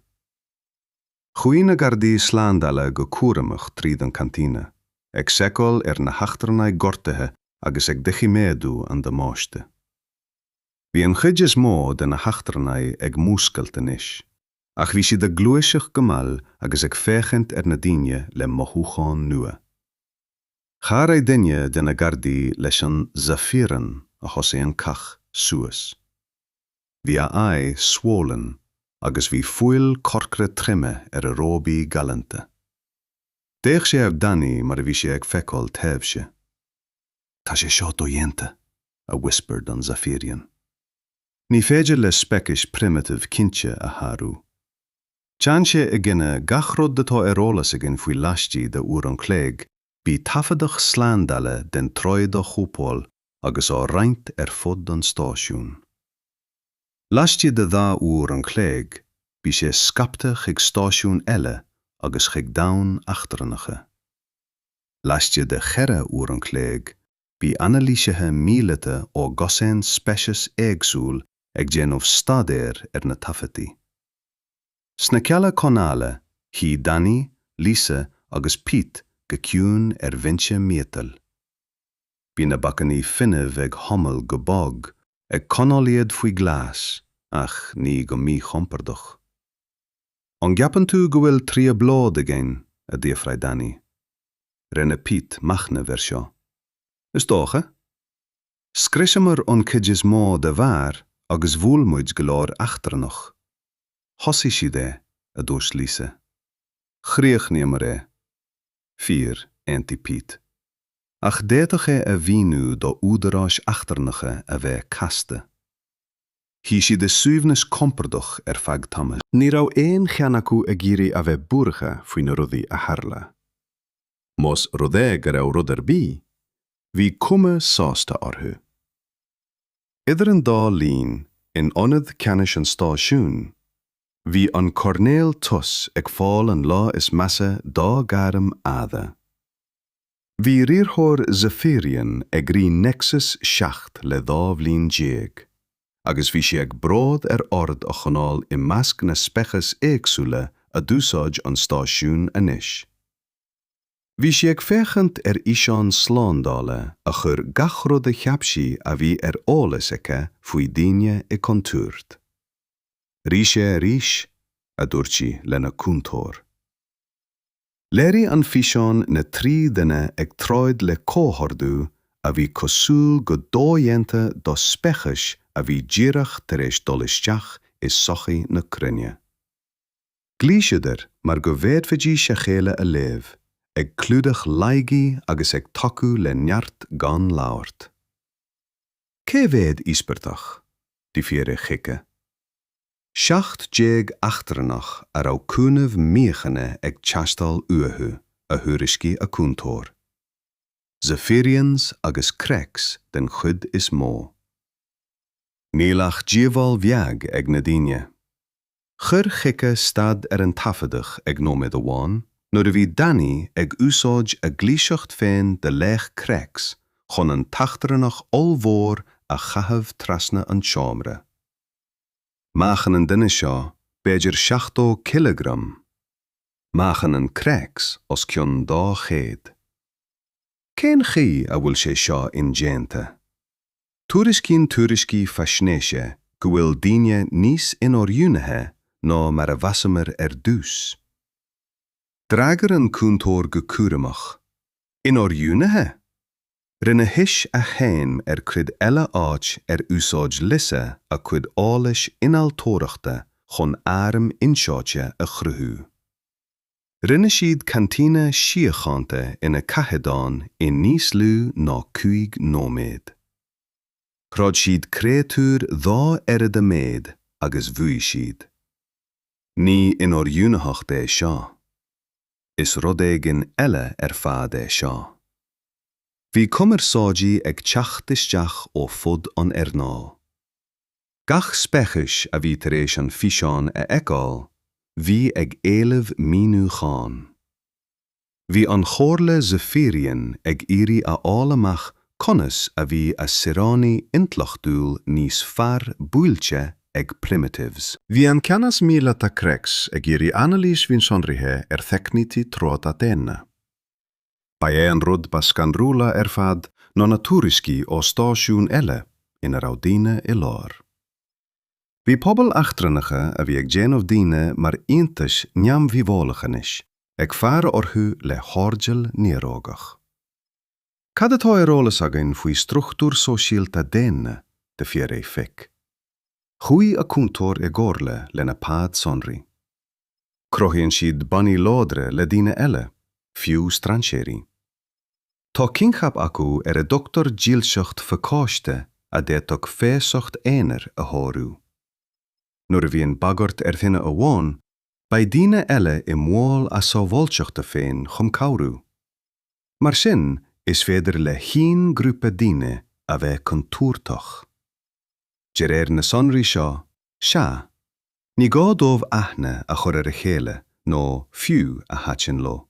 A: Chuaigh na gardaí slándála go cúramach tríd an cantina, ag seiceáil ar na heachtrannaigh gortaithe agus ag doiciméadú an damáiste. Bhí an chuid is mó de na heachtrannaigh ag múscailt anois. Ach bhí siad ag gluaiseacht go mall agus ag féachaint ar na daoine le mothúcháin nua. Chabhraigh duine de na gardaí leis an Zafirian a thosaigh an cath suas. Bhí a aghaidh swollen agus bhí fuil corcra triomaithe ar a róbaí galanta. D'fhéach sé ar Danny mar a bhí sé ag feiceáil taibhse. Tá sé seo dodhéanta, a whispered an Zafirian. Ní féidir le speicis primitive cinnte a shárú. Téann sé i gcoinne gach rud atá ar eolas againn faoi. Laistigh de uair an chloig, bhí taifeadadh slándála den troid á chóipeáil agus á roinnt ar fud an stáisiúin. Laistigh de dhá uair an chloig, bhí sé scaipte chuig stáisiúin eile agus chuig domhain eachtrannacha. Laistigh de cheithre uair an chloig, bhí anailísithe míleata ó dhosaen speiceas éagsúil ag déanamh staidéir ar na taifeadtaí. Sna cealla coinneála, shuigh Danny, Lisa agus Pete go ciúin ar bhinse miotail. Bhí na bacainní fuinnimh ag humáil go bog, ag coinneáil iad faoi ghlas, ach ní go míchompordach. An gceapann tú go bhfuil trioblóid againn? a d'fhiafraigh Danny. Rinne Pete machnamh ar seo. Is dócha. Scriosamar an cuid is mó de bheár agus bhuail muid go leor eachtrannach. Thosaigh siad é, a dúirt Lisa. Chríochnaíomar é. Fíor, aontaigh Pete. Ach d'fhéadfadh é a mhíniú do údaráis eachtrannacha a bheith casta. Shuigh siad i suaimhneas compordach ar feadh tamaill. Ní raibh aon cheann acu ag iarraidh a bheith buartha faoi na rudaí a tharla. Más rud é go raibh rud ar bith, bhí cuma sásta orthu. Idir an dá linn, in ionad ceannais an stáisiúin, bhí an Coirnéal Toos ag fáil an lá is measa dá ghairm fhada. Bhí riarthóir Zafirian ag rith Nexus 7 le dhá bhliain déag, agus bhí sé ag bród ar ord a choinneáil i measc na speiceas éagsúla a d'úsáid an stáisiún. Anois bhí sé ag féachaint ar fhíseáin slándála a chuir gach rud a cheap sí a bhí ar eolas aici faoi dhaoine i gcontúirt. Rith sé arís, a dúirt sí lena cúntóir. Léirigh an físeán na trí dhuine ag troid le comhordú a bhí cosúil go dodhéanta do speiceas a bhí díreach tar éis dul isteach i sochaí na cruinne. Ghluais siad mar go bhféadfaidís a chéile a léamh, ag clúdach laigí agus ag tacú le neart gan labhairt. Cé mhéad íospartach? a d'fhiafraigh Chica. 17 eachtrannach a raibh cúnamh míochaine ag teastáil uathu, a thuairiscigh a cúntóir. Zephyrians agus Crex den chuid is mó. Níl ach díobháil bheag ag na daoine. Chuir Chica stad ar an taifeadadh ag nóiméad amháin nuair a bhí Danny ag úsáid a ghluaiseacht féin de laoch Crex chun an t-eachtrannach ollmhór a chaitheamh trasna an tseomra. Meáchan an duine seo b'fhéidir 70 cileagram. Meáchan an Crex os cionn 200. Cén chaoi a bhfuil sé seo indéanta? Tuairiscíonn tuairiscí faisnéise go bhfuil daoine níos inoiriúnaithe ná mar a mheasamar ar dtús. D'fhreagair an cúntóir go cúramach, Inoiriúnaithe? Rinne sí zúmáil ar chuid eile áit ar úsáid Lisa a cuid eolais innealtóireachta chun airm in-seáite a chruthú. Rinne siad cantina síochánta ina cathéadan i níos lú ná cúig nóiméad. Throid siad créatúir dhá oiread a méad agus bhuaigh siad. Ní inoiriúnaitheacht é seo. is rud éigin eile ar fad é seo. Bhí cumarsáidí ag teacht isteach ó fud an earnáil. Gach speicis a bhí tar éis an físeán a fheiceáil, bhí ag éileamh míniúcháin. Bhí an Chomhairle Zephyrian ag iarraidh a fháil amach Conas a bhí a saoránaigh intleachtúil níos fearr buailte ag primitives? Bhí an
B: ceannas míleata Crex ag iarraidh anailís mhionsonraithe ar theicnící troda daonna. Ba é an rud ba scanrúla ar fad ná na tuairiscí ó stáisiúin eile ina raibh daoine i lár. Bhí pobail eachtrannacha a bhí ag déanamh daoine mar iontais neamhdhíobhálacha anois ag faire orthu le hairdeall néarógach. Cad atá ar eolas againn faoi struchtúr sóisialta daonna d'fhiafraigh Fick? Chuaigh a cúntóir i gcomhairle lena pad sonraí. Cruthaíonn siad bannaí láidre le daoine eile, fiú strainséirí. Tá coincheap acu ar a dtugtar dílseacht phacáiste a d'fhéadfadh feasacht aonair a shárú. Nuair a bhíonn bagairt ar dhuine amháin, beidh daoine eile i mbaol a sábháilteachta féin chun cabhrú. Mar sin, is féidir le haon ghrúpa daoine a bheith contúirteach. De réir na sonraí seo, sea, ní gá dóibh aithne a chur ar a chéile nó fiú a thaitin leo.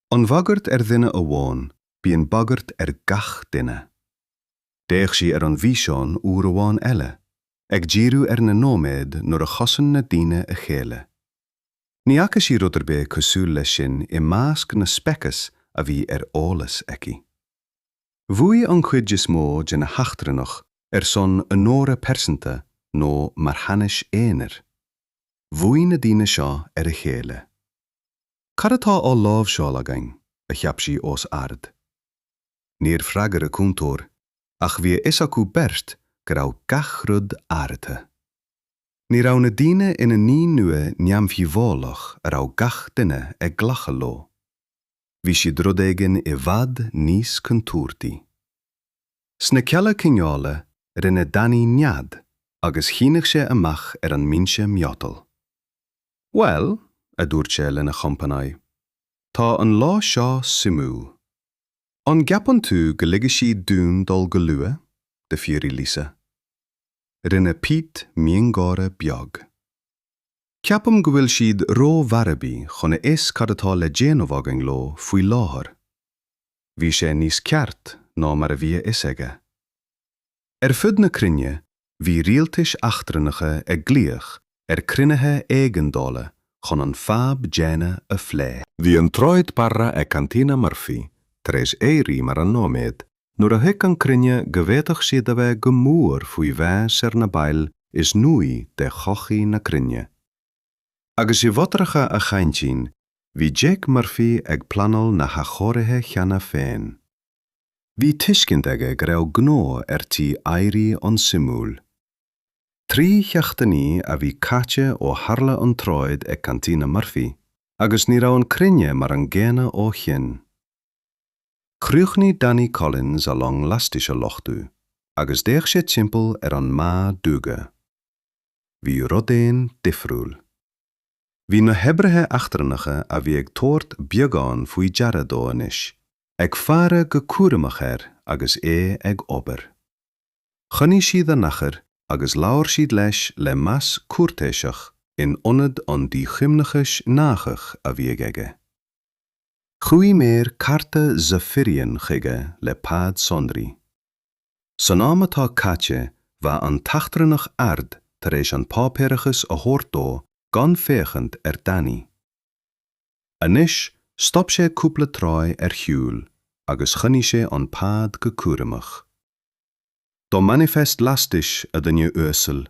B: An bhagairt ar dhuine amháin, bíonn bagairt ar gach duine. D'fhéach sí ar an bhfíseán uair amháin eile, ag díriú ar na nóiméid nuair a chosain na daoine a chéile. Ní fhaca sí rud ar bith cosúil leis sin i measc na speiceas a bhí ar eolas aici. Bhuaigh an chuid is mó de na heachtrannach ar son onóra pearsanta nó mar cheannas aonair. Bhuaigh na daoine seo ar a chéile. Cad atá á láimhseáil againn? a cheap sí os ard. Níor freagair a cúntóir, ach bhí a fhios acu beirt go raibh gach rud athraithe. Ní raibh na daoine ina ndaoine nua neamhdhíobhálach a raibh gach duine ag glacadh leo. Bhí siad rud éigin i bhfad níos contúirtí. Sna cealla coinneála rinne Danny nead agus shínigh sé amach ar an mbinse miotail. Bhuel, a dúirt sé lena chompánaigh, tá an lá seo suimiúil. An gceapann tú go ligfidh siad dúinn dul go luath, d'fhiafraigh Lisa? Rinne Pete miongháire beag. Ceapaim go bhfuil siad ró-mharaibí chun a fhios cad atá le déanamh againn leo faoi láthair. Bhí sé níos ceart ná mar a bhí a fhios aige. Ar fud na cruinne bhí rialtais eachtrannacha ag glaoch ar cruinnithe éigeandála chun an fadhb daonna a phlé. Bhí an troid
A: barra ag Cantina Murphy tar éis éirí mar an nóiméad Nuair a thuig an cruinne go bhféadfadh siad a bheith go mór faoi mheas ar na baill is nuaí de shochaí na cruinne. Agus i bhfothracha a chaintín, bhí Jake Murphy ag pleanáil na hathchóirithe cheana féin. Bhí tuiscint aige go raibh gnó ar tí éirí an-suimiúil. Trí sheachtainí a bhí caite ó tharla an troid ag Cantina Murphy, agus ní raibh an cruinne mar an gcéanna ó shin. Chríochnaigh Danny Collins a long lastais a luchtú agus d'fhéach sé timpeall ar an mbá duga. Bhí rud éigin difriúil. Bhí na hoibrithe eachtrannacha a bhí ag tabhairt beagán faoi deara dó anois, ag faire go cúramach air agus é ag obair. Choinnigh siad a n-achar agus labhair siad leis le meas cúirtéiseach in ionad an díchuimhneachais gnáthach a bhíodh aige. Chuaigh maor carta Zephyrian chuige le pad sonraí. San am atá caite bheadh an t-eachtrannach ard tar éis an páipéarachas a thabhairt dó gan féachaint ar Danny. Anois stop sé cúpla troigh ar shiúl agus choinnigh sé an pad go cúramach. Do manifest lastais, a dhuine uasail,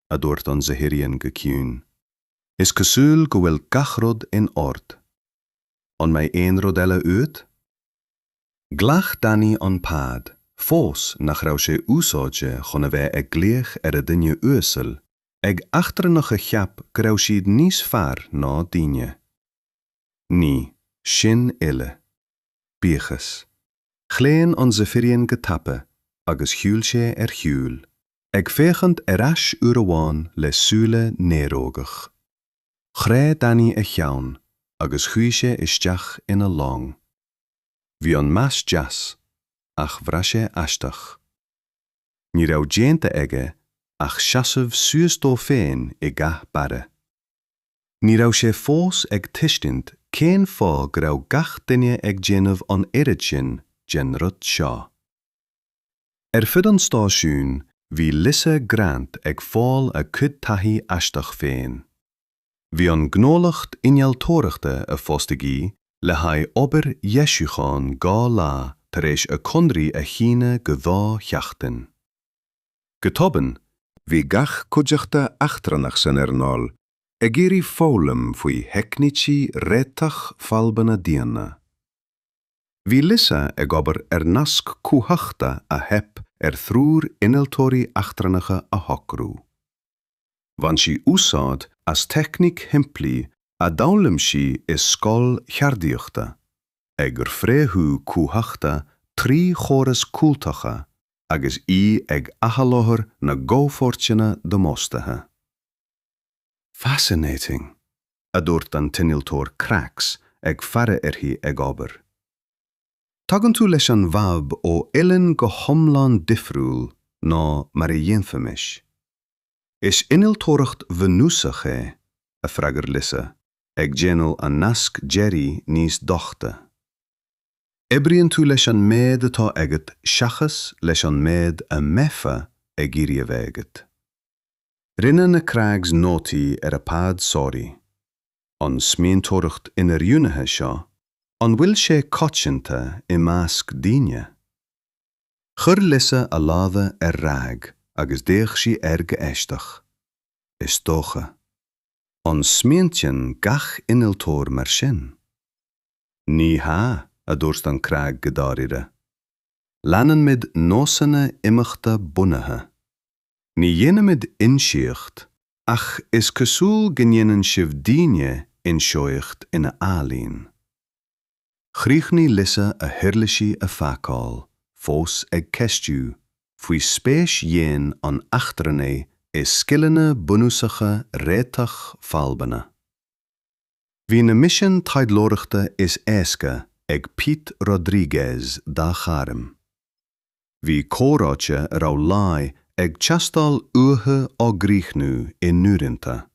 A: a dúirt an Zephyrian go ciúin. Is cosúil go bhfuil gach rud in ord. An mbeidh aon rud eile uait?
B: Ghlac Danny an pad, fós nach raibh sé úsáidte chun a bheith ag glaoch ar a dhuine uasail, ag eachtrannach a cheap go raibh siad níos fearr ná daoine. Ní, sin uile. Buíochas. Chlaon an Zephyrian go tapa agus shiúil sé ar shiúl, ag féachaint ar ais uair amháin le súile néarógach. Chroith Danny a cheann agus chuaigh sé isteach ina long. Bhí an meas deas, ach bhraith sé aisteach. Ní raibh déanta aige ach seasamh suas dó féin i gcath beáir. Ní raibh sé fós ag tuiscint cén fáth go raibh gach duine ag déanamh an oiread sin den rud seo. Ar fud an stáisiúin bhí Lisa Grant ag fáil a cuid taithí aisteach féin. Bhí an gnólacht innealtóireachta a fostaigh í le haghaidh obair dheisiúcháin dhá lá tar éis a conradh a shíneadh go dhá sheachtain. Go tobann, bhí gach cuideachta eachtrannach san earnáil ag iarraidh foghlaim faoi theicnící réiteach fadhbanna daonna. Bhí Lisa ag obair ar nasc cumhachta a theip ar thriúr innealtóirí eachtrannacha a shocrú. Bhain sí úsáid as teicníc shimplí a d'fhoghlaim sí i scoil cheardaíochta, ag fréamhú cumhachta trí chóras cúltaca agus í ag athsholáthar na gcomhpháirteanna damáistithe. Fascinating! a dúirt an t-innealtóir Krax ag faire uirthi ag obair. Tagann tú leis an bhfadhb ó uillinn go hiomlán difriúil ná mar a dhéanfaimis. Is innealtóireacht bhunúsach é, a freagair Lisa, ag déanamh an nasc deiridh níos doichte. Oibríonn tú leis an méid atá agat seachas leis an méid a mbeifeá ag iarraidh a bheith agat. Rinne na Krags nótaí ar a bpad sonraí. An smaointeoireacht inoiriúnaithe seo, an bhfuil sé coitianta i measc daoine? Chuir Lisa a lámha ar rag agus d'fhéach sí air go aisteach. Is dócha. An smaointíonn gach innealtóir mar sin? Ní hea, a dúirt an Krag go dáiríre. Leanann muid nósanna imeachta bunaithe. Ní dhéanaimid inseacht, ach is cosúil go ndéanann sibh daoine inseoidheacht ina ealaín. Chríochnaigh Lisa a huirlisí a phacáil, fós ag ceistiú faoi spéis dhéin an eachtrannaigh i scileanna bunúsacha réiteach fadhbanna. Bhí na misin taidhleoireachta is éasca ag Pete Rodriguez dá ghairm. Bhí comhráite a raibh láí ag teastáil uathu á gcríochnú i n-uaireanta.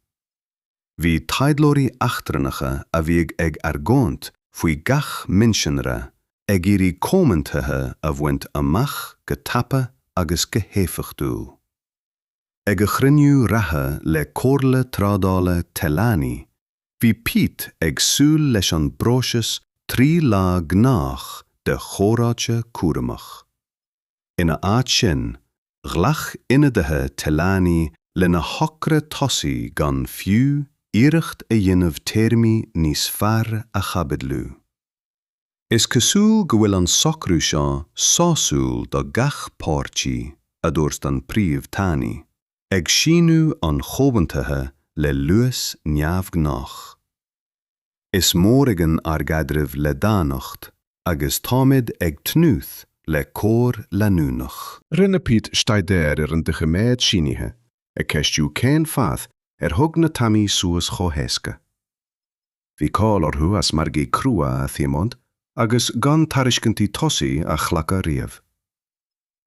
B: Bhí taidhleoirí eachtrannacha a bhíodh ag argóint faoi gach mionsonra ag iarraidh comhaontuithe a bhaint amach go tapa agus go héifeachtúil. Ag a chruinniú reatha le Comhairle Trádála Telani Bhí Pete ag súil leis an bpróiseas trí lá gnách de chomhráite cúramach. Ina áit sin, ghlac ionadaithe Telani lena thogra tosaigh gan fiú iarracht a dhéanamh téarmaí níos fearr a chaibidliú. Is cosúil go bhfuil an socrú seo sásúil do gach páirtí, a dúirt an Príomh Tanaí. Ag síniú an Chomhaontaithe le luas neamhghnách. Is mór againn ár gcaidreamh le daonnacht agus táimid ag tnúth le comhar leanúnach. Rinne Pete
A: staidéar ar an doiciméad sínithe, ag ceistiú cén fáth ar thug na Tamaí suas chomh héasca. Bhí cáil orthu as margaí crua a thiomáint agus gan tairiscintí tosaigh a ghlacadh riamh.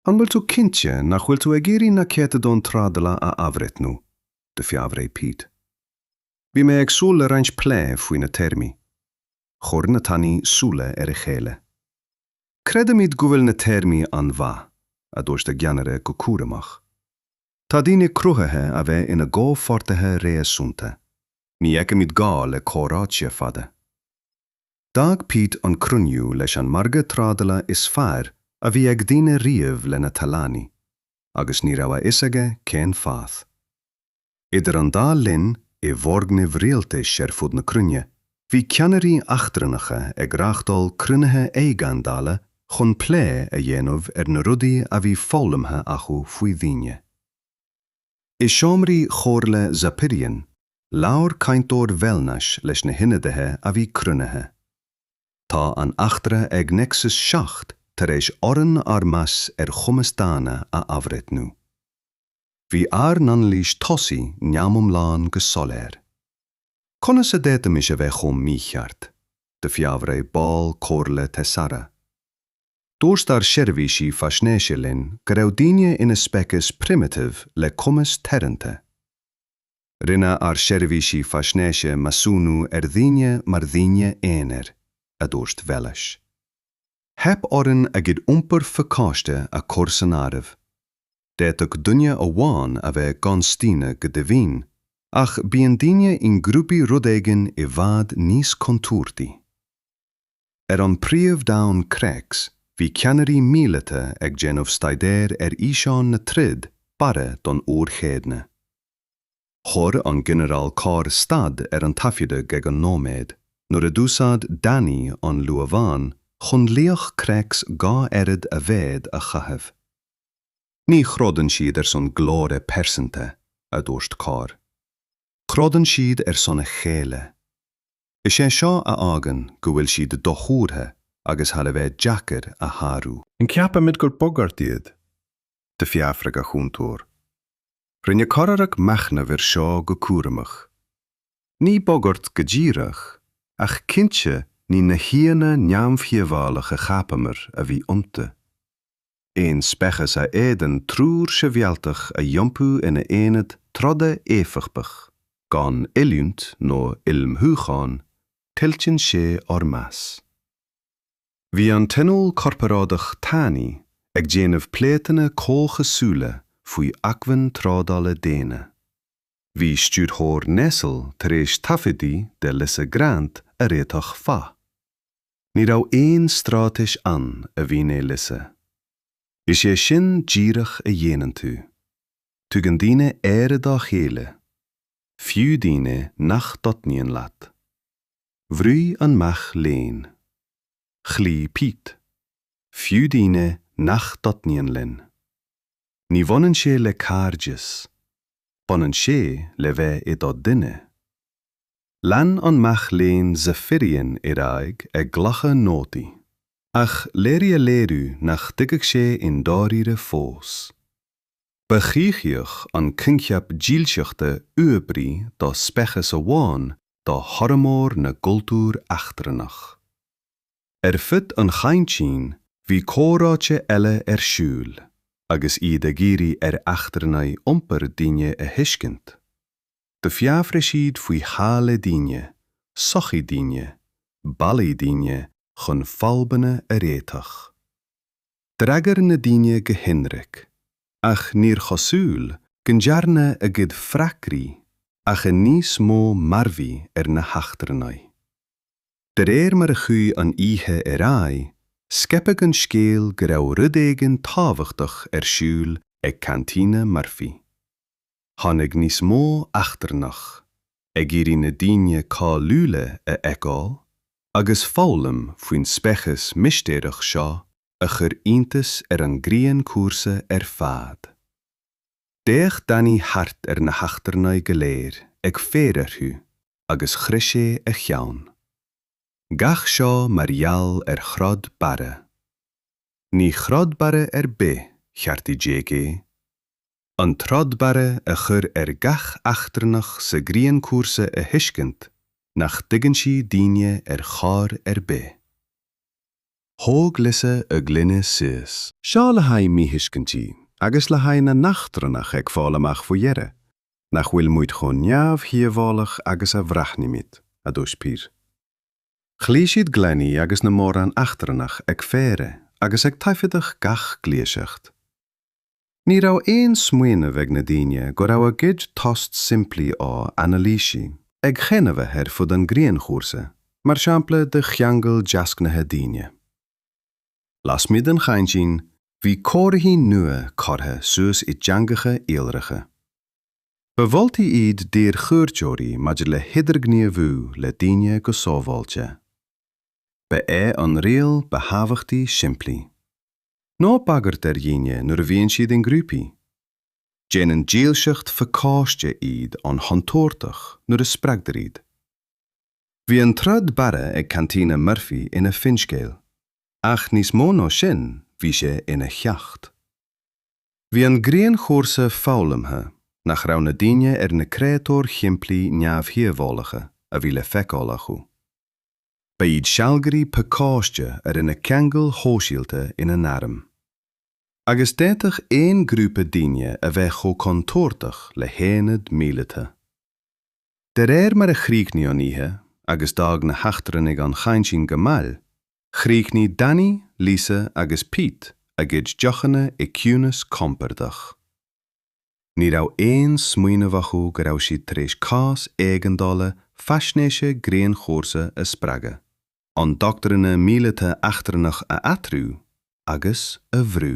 A: An bhfuil tú cinnte nach bhfuil tú ag iarraidh na céatadán trádala a athbhreithniú, d'fhiafraigh Pete? Bhí mé ag súil le roinnt plé faoi na téarmaí. Chuir na Talanaí súile ar a chéile. Creidimid go bhfuil na téarmaí an-mhaith, a dúirt a gceannaire go cúramach. Tá daoine cruthaithe a bheith ina gcomhpháirtithe réasúnta. Ní fheicimid gá le comhráite fada. D'fhág Pete an cruinniú leis an margadh trádala is fearr a bhí ag daoine riamh leis na Talanaí, agus ní raibh a fhios aige cén fáth. Idir an dá linn, i bhfoirgnimh rialtais ar fud na cruinne, bhí ceannairí eachtrannacha ag reáchtáil cruinnithe éigeandála chun
B: plé a dhéanamh ar na rudaí a bhí foghlamtha acu faoi dhaoine. I seomraí Chomhairle Zephyrian, labhair cainteoir Velnais leis na hionadaithe a bhí cruinnithe. Tá an eachtra ag Nexus 7 tar éis orainn ár meas ar chumas daonna a athbhreithniú. Bhí ár n-anailís tosaigh neamhiomlán go soiléir. Conas a d'fhéadfaimis a bheith chomh mícheart? d'fhiafraigh ball Comhairle Thessara. Dúirt ár seirbhísí faisnéise linn go raibh daoine ina speiceas primitive le cumas teoranta. Rinne ár seirbhísí faisnéise measúnú ar dhaoine mar dhaoine aonair, a dúirt Velnais. Theip orainn a gcuid iompair pacáiste a chur san áireamh. D'fhéadfadh duine amháin a bheith gan staonadh go deimhin, ach bíonn daoine i ngrúpaí rud éigin i bhfad níos contúirtí. Ar an bpríomh-domhan Crex bhí ceannairí míleata ag déanamh staidéir ar fhíseáin na troda beáir don uair chéadna. Chuir an Ginearál Corr stad ar an taifeadadh ag an nóiméad nuair a d'úsáid Danny an luamhán chun laoch Crex dhá oiread a mhéid a chaitheamh. Ní throideann siad ar son glóire pearsanta, a dúirt Corr. Troideann siad ar son a chéile. Is é seo a fhágann go bhfuil siad dothuartha agus thar a bheith deacair a shárú. An gceapaimid gur
A: bagairt iad? d'fhiafraigh a chúntóir. Rinne Corr machnamh air seo go cúramach. Ní bagairt go díreach, ach cinnte ní na haíonna neamhdhíobhálacha a chapamar a bhí iontu. Aon speiceas a fhéadann triúr sibhialtach a iompú ina aonad troda éifeachtach, gan oiliúint nó ullmhúchán, tuillteann sé ár meas. Bhí an Tionól Corparáideach Talanaí, ag déanamh pléatanna comhchosúla faoi acmhainn trádála daonna. Bhí Stiúrthóir Nestle tar éis taifeadtaí de Lisa Grant a réiteach fadhb. Ní raibh aon stráitéis ann, a mhínigh Lisa. Is é sin díreach a dhéanann tú. Tugann daoine aire dá chéile, fiú daoine nach dtaitníonn leat. Bhrúigh an mac léinn. Chloígh Pete, fiú daoine nach dtaitníonn linn. Ní bhaineann sé le cairdeas, baineann sé le bheith i do dhuine. Lean an mac léinn Zephyrian ar aghaidh ag glacadh nótaí, ach léirigh a léiriú nach dtuigfeadh sé i ndáiríre fós. Ba choimhthíoch an coincheap dílseachta uathoibrí do speiceas amháin do fhormhór na gcultúr eachtrannach. Ar fud an chaintín bhí comhráite eile ar siúl, agus iad ag iarraidh ar eachtrannaigh iompar daoine a thuiscint. D'fiafraigh siad faoi theaghlaigh daoine, sochaí daoine, bealaí daoine chun fadhbanna a réiteach. D'fhreagair na daoine go hionraic, ach níor chosúil go ndearna a gcuid freagraí ach níos mó mearbhaill ar na heachtrannaigh. De réir mar a chuaigh an oíche ar aghaidh, scaipeadh an scéal go raibh rud éigin tábhachtach ar siúl ag Cantina Murphy. tháinig níos mó eachtrannach ag iarraidh na daoine cáiliúla a fheiceáil agus foghlaim faoin speiceas mistéireach seo a chuir iontas ar an Grianchúrsa ar fad. D'fhéach Danny thart ar na heachtrannaigh go léir ag faire orthu agus chroith sé a cheann. Gach seo mar gheall ar throid barra. Ní throid barra ar bith, cheartaigh Jake é. an troid barra a chuir ar gach eachtrannach sa ghrianchúrsa a thuiscint nach dtuigeann sí daoine ar chor ar bith. Thóg Lisa a gloine suas. Seo le haghaidh míthuiscintí agus le haghaidh na n-eachtrannach ag fáil amach faoi dheireadh nach bhfuil muid chomh neamhdhíobhálach agus a bhreathnaímid, a dúirt Pete. Chloígh siad gloiní agus na mórán eachtrannach ag faire agus ag taifeadadh gach gluiaseacht. Ní raibh aon smaoineamh ag na daoine go raibh a gcuid tost simplí á anailísiú, ag chaon a bheith ar fud an grianchúrsa, mar shampla de cheangal deasghnátha daoine. Lasmuigh den chaintín, bhí comharthaí nua curtha suas i dteangacha iolracha. Ba mholtaí iad d'iarchuairteoirí maidir le hidirghníomhú le daoine go sábháilte. Ba
B: é an riail ba thábhachtaí simplí. Ná bagairt ar dhaoine nuair a bhíonn siad i ngrúpaí. Déanann dílseacht phacáiste iad an-chontúirteach nuair a spreagtar iad. Bhí an troid bheáir ag Cantina Murphy ina finscéal, ach níos mó ná sin bhí sé ina cheacht. Bhí an grianchúrsa foghlamtha nach raibh na daoine ar na créatúir shimplí neamhdhíobhálacha a bhí le feiceáil acu. Ba iad sealgairí pacáiste a rinne ceangail shóisialta ina n-arm. Agus d'fhéadfadh aon ghrúpa daoine a bheith chomh contúirteach le haonad míleata. De réir mar a chríochnaigh an oíche agus d'fhág na heachtrannaigh an cheaintín go mall, chríochnaigh Danny, Lisa agus Pete a gcuid deochanna i gciúnas compordach. Ní raibh aon smaoineamh acu go raibh siad tar éis cás éigeandála faisnéise grianchúrsa a spreagadh, an doctrine míleata eachtrannach a athrú agus a bhrú.